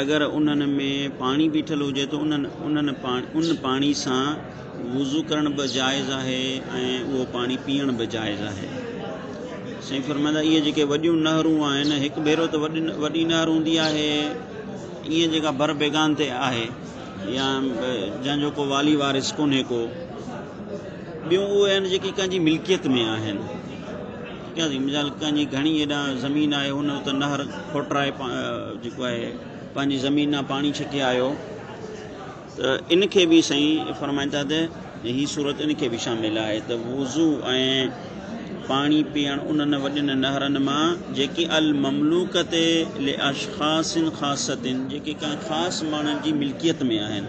اگر انهن ۾ پاڻي بيٺل هجي ته ان پاڻي سان وضو ڪرڻ به جائز آهي ۽ اهو پاڻي پيئڻ به جائز آهي سائين فرمائندا اهي جيڪي وڏيون نهرون آهن هڪ ڀيرو ته وڏي وڏي نهر هوندي آهي ائين جيڪا بر بيگان تي آهي يا جنهن جو کو والي وارث ڪونهي ڪو ٻيون اهي آهن جيڪي ڪنهن جي ملڪيت ۾ آهن قاضي مجال کان جي گهڻي ايڏا زمين آهي هن اتي نهر کوٽرائي جيڪو آهي پنهنجي زمين نا پاڻي ڇڪي آيو ته ان کي به سائين فرمائن ٿا ته هي صورت ان کي به شامل آهي ته وضو ۽ پاڻي پيئڻ انهن وڏين نهرن مان جيڪي المملوڪت لاشخاص خاصتن جيڪي ڪنهن خاص ماڻهن جي ملڪيت ۾ آهن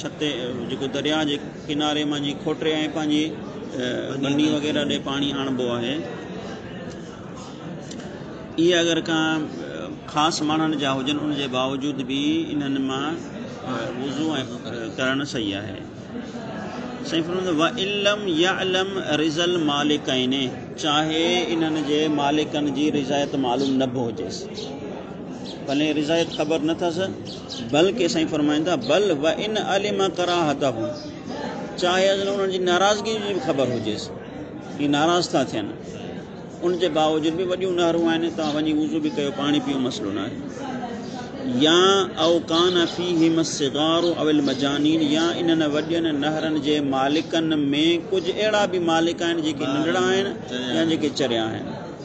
ڇت جيڪو درياهه جي ڪناري مان جي کوٽري ۽ پنهنجي ٻني وغيره ڏي پاڻي آڻبو آهي. اهي اگر ڪا خاص ماڻهن جا هجن ان جي باوجود به انهن مان وضو ڪرڻ صحيح آهي. سائين فرمائن وان لم يعلم رضا المالڪين چاهي انهن جي مالڪن جي رضايت معلوم نه به هجيس ڀلي رضايت خبر نه ٿس بلڪه سائين فرمائن ٿا بل و ان علم ڪراهته چاهي اصل انهن جي ناراضگي جي به خبر هجيس هي ناراض ٿا ٿين ان جي باوجود به وڏيون نهرون آهن توهان وڃي وضو به ڪيو پاڻي پيو مسئلو نه آهي يا او کان فيهم الصغار او المجانين يا انهن وڏين نهرن جي مالڪن ۾ ڪجهه اهڙا به مالڪ آهن جيڪي ننڍڙا آهن يا جيڪي چريا آهن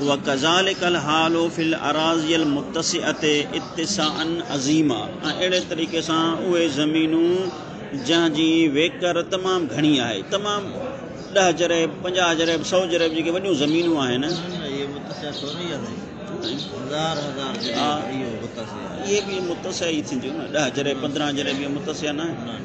وڪذلک الحال في الاراضي المتسعه اتساعا عظيما ۽ اهڙي طريقي سان اهي زمينون جنهن جي ويڪر تمام گهڻي آهي تمام ڏهه جريب پنجاهه جريب سئو جريب جيڪي وڏيون زمينون آهن اهي به متسع ئي ٿينديون نه ڏهه جريب پندرهن جريب متسع نه آهن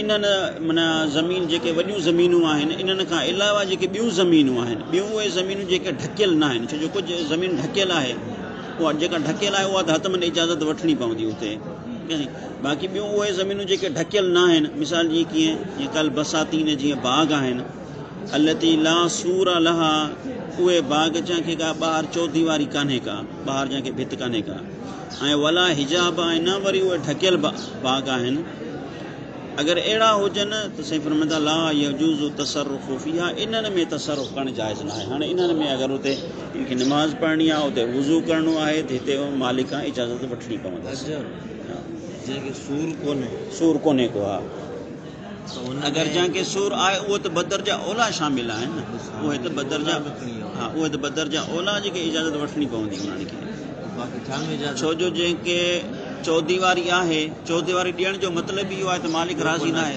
انهن معنيٰ زمين جيڪي وڏيون زمينون آهن انهن کان علاوه جيڪي ٻيون زمينون آهن ٻيون اهي زمينون جيڪي ڍڪيل نه آهن ڇو جو ڪجهه زمين ڍڪيل آهي اها جيڪا ڍڪيل آهي اها ته حتمن اجازت وٺڻي پوندي اتي باقي ٻيون اهي زمينون جيڪي ڍڪيل نه آهن مثال جي ڪيئن جيئن ڪل بساتين جيئن باغ آهن التي لا سور لها اهي باغ جنهن کي ڪا ٻاهر چوديواري ڪانهي ڪا ٻاهر جنهن کي ڀت ڪانهي ڪا ۽ ولا حجاب ۽ نه وري اهي ڍڪيل باغ آهن اگر اهڙا هجن ته سائين فرمائن ٿا لا يجوز تصرف فيها انهن ۾ تصرف ڪرڻ جائز ناهي هاڻي انهن ۾ اگر اتي ان کي نماز پڙهڻي آهي اتي وضو ڪرڻو آهي ته هتي مالڪ کان اجازت وٺڻي پوندس جنهن کي سور ڪونهي سور ڪونهي ڪو ها اگرجان کي سور آهي اهي ته بدر جا اولا شامل آهن نه اهي ته بدر جا ها اهي ته بدر جا اولا جي کي اجازت وٺڻي پوندي انهن کي ڇو جو جنهن کي چوديواري آهي چوديواري ڏيڻ جو مطلب ئي اهو آهي ته مالڪ راضي ناهي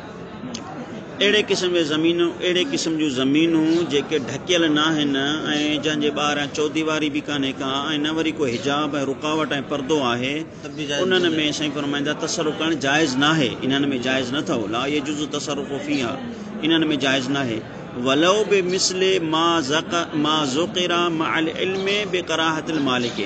اهڙي قسم جي زمينون اهڙي قسم جون زمينون جيڪي ڍڪيل ناهن ۽ جنهن جي ٻاهران چوديواري به ڪانهي ڪا ۽ نه وري ڪو حجاب ۽ رڪاوٽ ۽ پردو آهي انهن ۾ سائين فرمائن ٿا تصرف ڪرڻ جائز ناهي انهن ۾ جائز نه اٿئو لا يجوز التصرف فيها انهن ۾ جائز ناهي ولو بمثل ما ذڪر ما ذڪر مع العلم بڪراهت المالڪ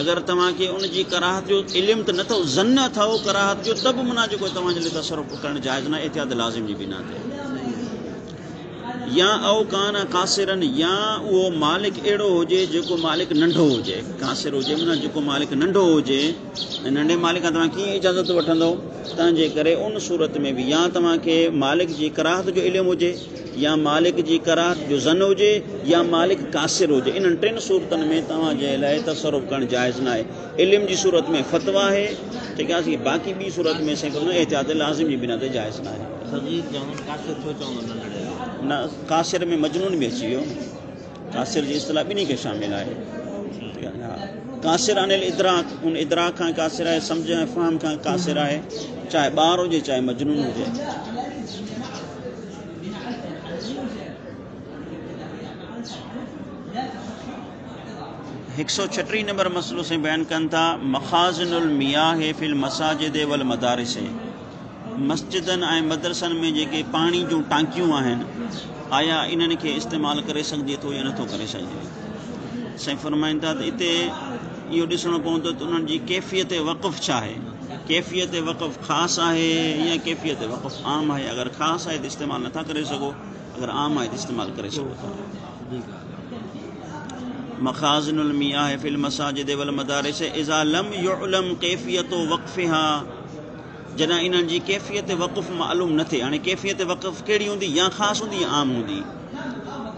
اگر توهان کي ان جي ڪراهت جو علم ته نه اٿئو، ظن اٿئو ڪراهت جو ته به منع جو ڪوئي توهان جي لئه تصرف ڪرڻ جائز ناهي احتياط لازم جي بنا تي. يا او ڪان قاصرن يا اهو مالڪ اهڙو هجي جيڪو مالڪ ننڍو هجي، قاصر هجي منع جيڪو مالڪ ننڍو هجي ۽ ننڍي مالڪ کان توهان ڪيئن اجازت وٺندئو تنهن جي ڪري ان صورت ۾ به يا توهان کي مالڪ جي ڪراهت جو علم هجي، يا مالڪ جي ڪراهت جو ظن هجي يا مالڪ قاصر هجي انهن ٽن صورتن ۾ توهان جي لاء تصرف ڪرڻ جائز ناهي علم جي صورت ۾ فتويٰ آهي ٺيڪ آهي باقي ٻي صورت ۾ سائين ڪرڻ احتياط لازم جي بنا تي جائز ناهي صغير جهون قاصر ڇو چوندو ننڍڙي کي نه قاصر ۾ مجنون به اچي ويو قاصر جي اصطلاح ٻنهي کي شامل آهي ٺيڪ آهي ها قاصر عن الادراڪ ان ادراڪ کان قاصر آهي سمجھ ۽ فهم کان قاصر آهي چاهي ٻار هجي چاهي مجنون هجي هڪ سؤ ڇٽيهه نمبر مسئلو سائين بيان ڪن ٿا مخازن المياه في المساجد والمدارس مسجدن ۽ مدرسن ۾ جيڪي پاڻي جون ٽانڪيون آهن آيا انهن کي استعمال ڪري سگهجي ٿو يا نٿو ڪري سگهجي سائين فرمائن ٿا ته اتي اهو ڏسڻو پوندو ته انهن جي ڪيفيت وقف ڇا آهي ڪيفيت وقف خاص آهي يا ڪيفيت وقف عام آهي اگر خاص آهي ته استعمال نٿا ڪري سگهو اگر عام آهي ته استعمال ڪري سگهو ٿا مخازن المياه في المساجد والمدارس اذا لم يعلم ڪيفيت وقفها جڏهن انهن جي ڪيفيت وقف معلوم نه ٿئي هاڻي ڪيفيت وقف ڪهڙي هوندي يا خاص هوندي يا عام هوندي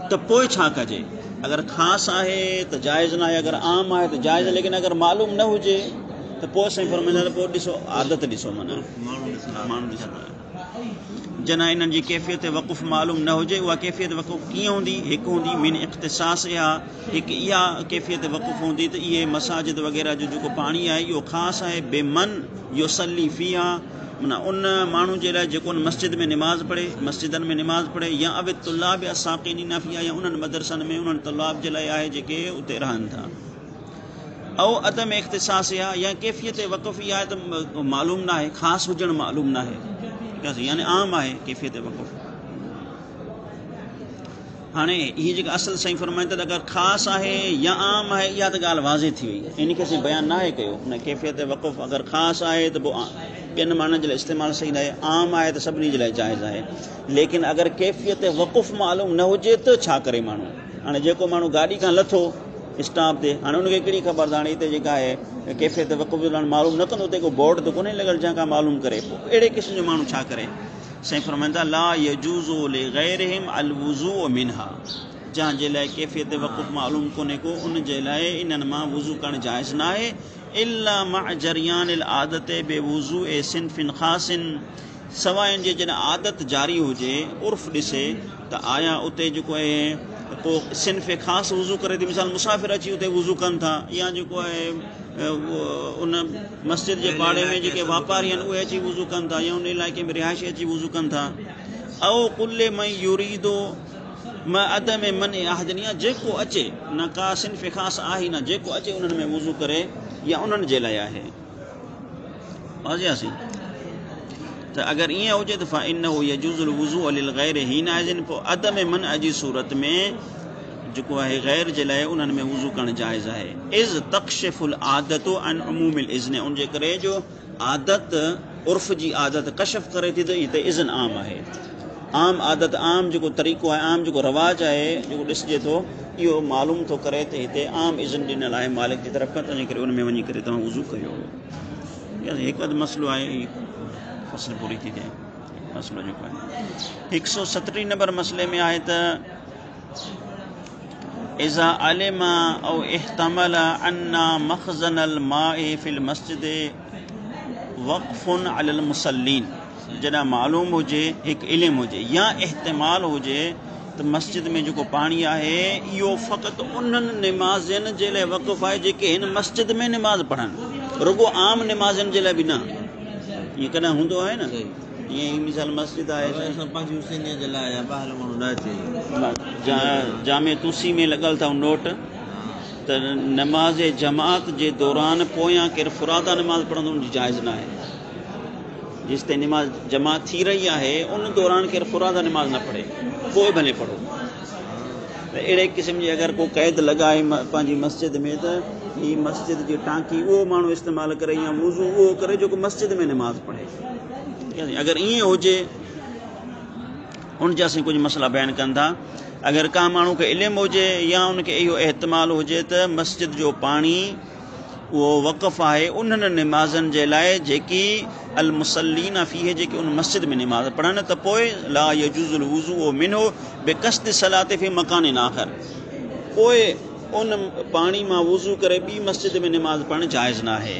ته پوء ڇا ڪجي؟ اگر خاص آهي ته جائز ناهي اگر عام آهي ته جائز ليڪن اگر معلوم نه هجي ته پوء سائين فرمائندا ته پوء ڏسو عادت ڏسو معنيٰ ماڻهو ڏسو جنان انهن جي ڪيفيت وقف معلوم نه هجي اها ڪيفيت وقف ڪيئن هوندي هڪ هوندي من اختصاص اها هڪ اها ڪيفيت وقف هوندي ته اهي مساجد وغيره جو جيڪو پاڻي آهي اهو خاص آهي بي من يصلي فيها معنيٰ ان ماڻهو جي لاء جيڪو ان مسجد ۾ نماز پڙهي، مسجدن ۾ نماز پڙهي، يا اوي الطلاب الساڪنين فيها يا انهن مدرسن ۾ انهن طلاب جي لاء آهي جيڪي اتي رهن ٿا. او عدم اختصاصها يا ڪيفيت وقف اها آهي ته معلوم ناهي، خاص هجڻ معلوم ناهي. يعني عام آهي ڪيفيت وقف. هاڻي هي جيڪا اصل سائين فرمائن ٿا ته اگر خاص آهي يا عام آهي اها ته ڳالهه واضح ٿي وئي ان کي اسين بيان ناهي ڪيو ان ڪيفيت وقف اگر خاص آهي ته پوء ٻين ماڻهن جي لاء استعمال صحيح ناهي عام آهي ته سڀني جي لاء جائز آهي ليڪن اگر ڪيفيت وقف معلوم نه هجي ته ڇا ڪري ماڻهو هاڻي جيڪو ماڻهو گاڏي کان لٿو اسٽاپ تي هاڻي ان کي ڪهڙي خبر ته هاڻي هتي جيڪا آهي ڪيفيت وقف جو معلوم نه ڪندو هتي ڪو بورڊ ته ڪونهي لڳل جنهن کان معلوم ڪري پوء اهڙي قسم جو ماڻهو ڇا ڪري سائين فرمائن ٿا لا يجوز لغيرهم الوضوء منها جنهن جي لاء ڪيفيت وقت معلوم ڪونهي ڪو ان جي لاء انهن مان وضو ڪرڻ جائز ناهي الا مع جريان العادت بوضوء صنف خاص سواء ان جي جڏهن عادت جاري هجي عرف ڏسي ته آيا اتي جيڪو آهي ڪو صنف خاص وضو ڪري ٿي مثال مسافر اچي اتي وضو ڪن ٿا يا جيڪو آهي ان مسجد جي پاڙي ۾ جيڪي واپاري آهن اهي اچي وضو ڪن ٿا يا ان علائقي ۾ رهائشي اچي وضو ڪن ٿا او قل من يريد ما عدم من احدنيا جيڪو اچي نه کا صنف خاص آهي نه جيڪو اچي انهن ۾ وضو ڪري يا انهن جي لاء آهي واضح آسي ته اگر ائين هجي ته فانه يجوز الوضو للغير هين آهن عدم من اجي صورت ۾ جيڪو آهي غير جي لاء انهن ۾ وضو ڪرڻ جائز آهي اذ تڪشف العادت عن عموم الاذن ان جي ڪري جو عادت عرف جي عادت ڪشف ڪري ٿي ته هتي اذن عام آهي عام عادت عام جيڪو طريقو آهي عام جيڪو رواج آهي جيڪو ڏسجي ٿو اهو معلوم ٿو ڪري ته هتي عام اذن ڏنل آهي مالڪ جي طرف کان تنهنجي ڪري ان ۾ وڃي ڪري توهان وضو ڪيو يعني هڪ اڌ مسئلو آهي فصل پوري ٿي جائي مسئلو جيڪو آهي هڪ سو سترين نمبر مسئلي ۾ آهي ته اذا علم او احتمل ان مخزن الماء في المسجد وقف علي المصلين جڏهن معلوم هجي هڪ علم هجي يا احتمال هجي ته مسجد ۾ جيڪو پاڻي آهي اهو فقط انهن نمازين جي لاء وقف آهي جيڪي هن مسجد ۾ نماز پڙهن رڳو عام نمازين جي لاء به نه ائين ڪڏهن هوندو آهي نه جامع توسي ۾ لڳل اٿئو نوٽ ته نماز جماعت جي دوران پويان ڪير فرادا نماز پڙهندو ان جي جائز ناهي جيستائين نماز جماعت ٿي رهي آهي ان دوران ڪير فرادا نماز نه پڙهي پوء ڀلي پڙهو ته اهڙي قسم جي اگر ڪو قيد لڳائي پنهنجي مسجد ۾ ته هي مسجد جي ٽانڪي اهو ماڻهو استعمال ڪري يا وضو اهو ڪري جيڪو مسجد ۾ نماز پڙهي اگر ائين هجي ان جا سين ڪجهه مسئلا بيان ڪن ٿا اگر ڪا ماڻهو کي علم هجي يا ان کي اهو احتمال هجي ته مسجد جو پاڻي اهو وقف آهي انهن نمازن جي لاء جيڪي المسلين فيه جيڪي ان مسجد ۾ نماز پڙهن ته پوء لا يجوز الوضو منه بقصد صلات في مڪان آخر پوء ان پاڻي مان وضو ڪري ٻي مسجد ۾ نماز پڙهڻ جائز نه آهي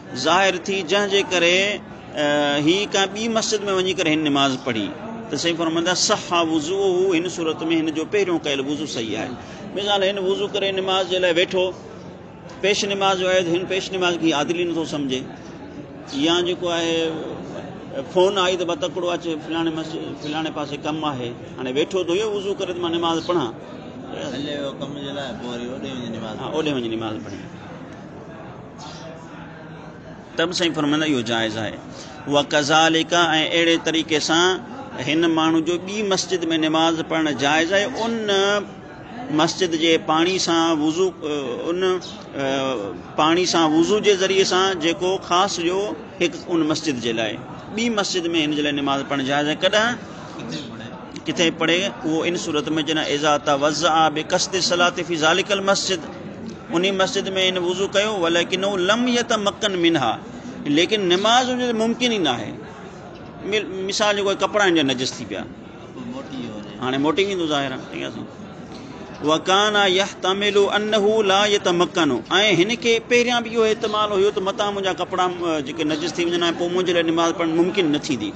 ظاهر ٿي جنهن جي ڪري هي ڪنهن ٻي مسجد ۾ وڃي ڪري هن نماز پڙهي ته سائين فرمائن ٿا صح وضوءه هن صورت ۾ هن جو پهريون ڪيل وضو صحيح آهي مثال هن وضو ڪري نماز جي لاء ويٺو پيش نماز جو آهي ته هن پيش نماز کي عادل ئي نٿو سمجھي يا جيڪو آهي فون آئي ته بتڪڙو اچي فلاڻي مسجد فلاڻي پاسي ڪم آهي هاڻي ويٺو ته اهو وضو ڪري ته مان نماز پڙهان هلي ويو ڪم جي لاء پوء وري اوڏي وڃي نماز پڙهي ته به سائين فرمائندا اهو جائز آهي اها ڪزاليڪا ۽ اهڙي طريقي سان هن ماڻهو جو ٻي مسجد ۾ نماز پڙهڻ جائز آهي ان مسجد جي پاڻي سان وضو ان پاڻي سان وضو جي ذريعي سان جيڪو خاص جو هڪ ان مسجد جي لاء ٻي مسجد ۾ هن جي لاء نماز پڙهڻ جائز آهي ڪڏهن ڪٿي پڙهي اهو ان صورت ۾ جڏهن ايزا توزع بي قصد صلاح في ذالڪ المسجد انهي مسجد ۾ هن وضو ڪيو ولڪنه لم يتمكن منها ليڪن نماز ان جو ممڪن ئي ناهي مثال جو ڪپڙا ان جا نجس ٿي پيا هاڻي موٽي ويندو ظاهر وڪانا يحتمل انه لا يتمكن ۽ هن کي پهريان به اهو احتمال هيو ته متان منهنجا ڪپڙا جيڪي نجس ٿي وڃن ۽ پوء منهنجي لاء نماز پڙهڻ ممڪن نه ٿيندي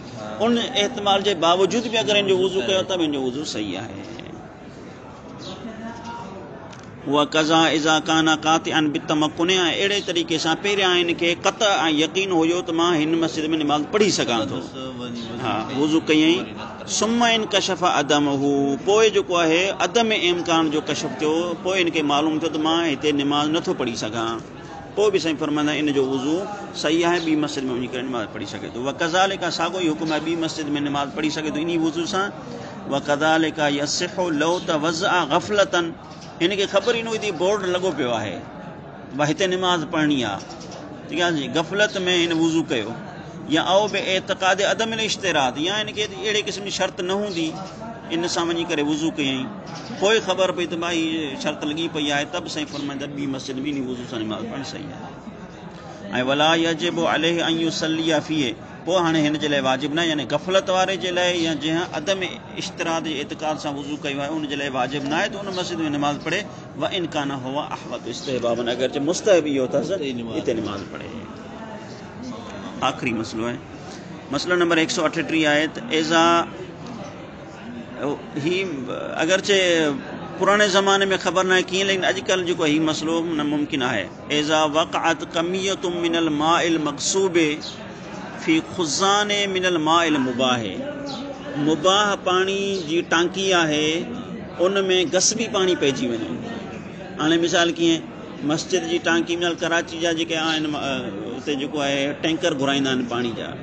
ان احتمال جي باوجود به اگر هن جو وضو ڪيو ته به هن جو وضو صحيح آهي وڪذا اذا ڪان قاطعا بالتمكن ۽ اهڙي طريقي سان پهريان هن کي قطع ۽ يقين هيو ته مان هن مسجد ۾ نماز پڙهي سگهان ٿو ها وضو ڪيائين ثم انڪشف عدمه پوء جيڪو آهي عدم امڪان جو ڪشف ٿيو پوء هن کي معلوم ٿيو ته مان هتي نماز نٿو پڙهي سگهان پوء به سائين فرمائندا آهن ان جو وضو صحيح آهي ٻي مسجد ۾ وڃي ڪري نماز پڙهي سگهي ٿو وڪذالڪ ساڳيو ئي حڪم آهي ٻي مسجد ۾ نماز پڙهي سگهي ٿو انهي وضو سان وڪذالڪ يصح لو توضع غفلة هن کي خبر ئي نه هئي ته بورڊ لڳو پيو آهي ڀا هتي نماز پڙهڻي آهي غفلت ۾ هن وضو ڪيو يا او به اعتقاد عدم الاشتراط يا هن کي اهڙي قسم جي شرط نه هوندي ان سان وڃي ڪري وضو ڪيائين پوء خبر پئي ته مان هي شرط لڳي پئي آهي ته به سائين فرمائن ته ٻي مسجد ۾ انهي وضو سان نماز پڙهڻ صحيح آهي ۽ ولا يجب عليه ان يصلي فيه پوء هاڻي هن جي لاء واجب ناهي يعني غفلت واري جي لاء يا جنهن عدم اشتراط جي اعتقاد سان وضو ڪيو آهي ان جي لاء واجب ناهي ته ان مسجد ۾ نماز پڙهي وان ڪان هو احوط استحبابا اگرچه مستحب اهو اٿس اتي نماز پڙهي آخري مسئلو آهي مسئلو نمبر ايڪ سؤ اٺٽيهه آهي ته اذا هي اگرچه پراڻي زماني ۾ خبر ناهي ڪيئن ليڪن اڄڪلهه جيڪو هي مسئلو ممڪن آهي اذا وقعت ڪميه من الماء المغصوب في خزان من الماء المباح مباح پاڻي جي ٽانڪي آهي ان ۾ غصبي پاڻي پئجي وڃي هاڻي مثال ڪيئن مسجد جي ٽانڪي مثال ڪراچي جا جيڪي آهن اتي جيڪو آهي ٽينڪر گهرائيندا آهن پاڻي جا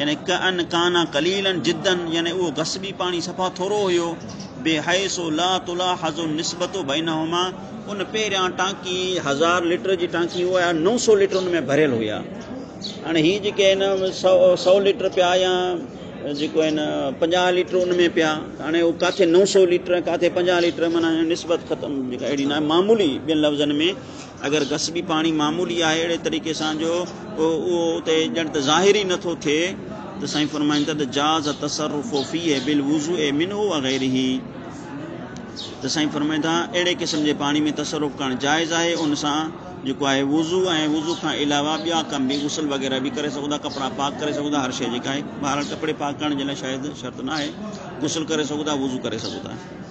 يعني ڪأن ڪان قليلا جدا يعني اهو غصبي پاڻي صفا ٿورو هيو بحيث لا تلاحظ النسبت بينهما ان پهريان ٽانڪي هزار ليٽر جي ٽانڪي هو يا نو سو ليٽر ان ۾ ڀريل هيا هاڻي هي جيڪي هن سو سو ليٽر پيا يا جيڪو هن پنجاهه ليٽر ان ۾ پيا هاڻي هو ڪاٿي نو سو ليٽر ڪاٿي پنجاهه ليٽر مانا نسبت ختم جيڪا اهڙي ناهي معمولي ٻين لفظن ۾ اگر غصبي پاڻي معمولي آهي اهڙي طريقي سان جو اهو اتي ڄڻ ته ظاهر ئي نٿو ٿئي ته سائين فرمائن ٿا ته جاز تصرف فيه بالوضوء منه وغيره ته سائين فرمائن ٿا اهڙي قسم جي پاڻي ۾ تصرف ڪرڻ جائز آهي ان سان جيڪو آهي وضو ۽ وضو کان علاوه ٻيا ڪم به غسل وغيره به ڪري سگهو ٿا ڪپڙا پاڪ ڪري سگهو ٿا هر شيء جيڪا آهي بهرحال ڪپڙي پاڪ ڪرڻ جي لاء شايد شرط نه آهي غسل ڪري سگهو ٿا وضو ڪري سگهو ٿا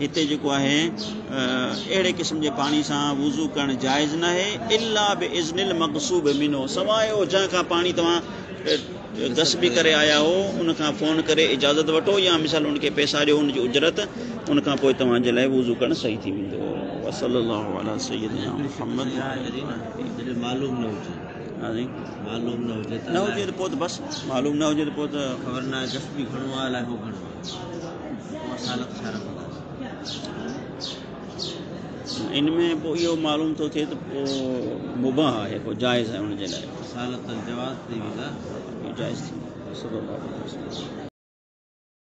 هتي جيڪو آهي اهڙي قسم جي پاڻي سان وضو ڪرڻ جائز ناهي الا باذن المغصوب منه سواء او جنهن کان پاڻي توهان غصب ڪري آيا آهو ان کان فون ڪري اجازت وٺو يا مثال ان کي پئسا ڏيو ان جي اجرت ان کان پوء توهان جي لاء وضو ڪرڻ صحيح ٿي ويندو وصلي الله علي سيدنا محمد معلوم نه هجي ها جي معلوم نه هجي نه هجي ته پوء ته بس معلوم نه هجي ته پوء ته خبر نه آهي غصب گهڻو آهي الاء هو گهڻو ان ۾ پوء اهو معلوم ٿو ٿئي ته پوء مباح آهي پوء جائز آهي ان جي لاء رسالت الجواز تي ويندا جائز ٿيندو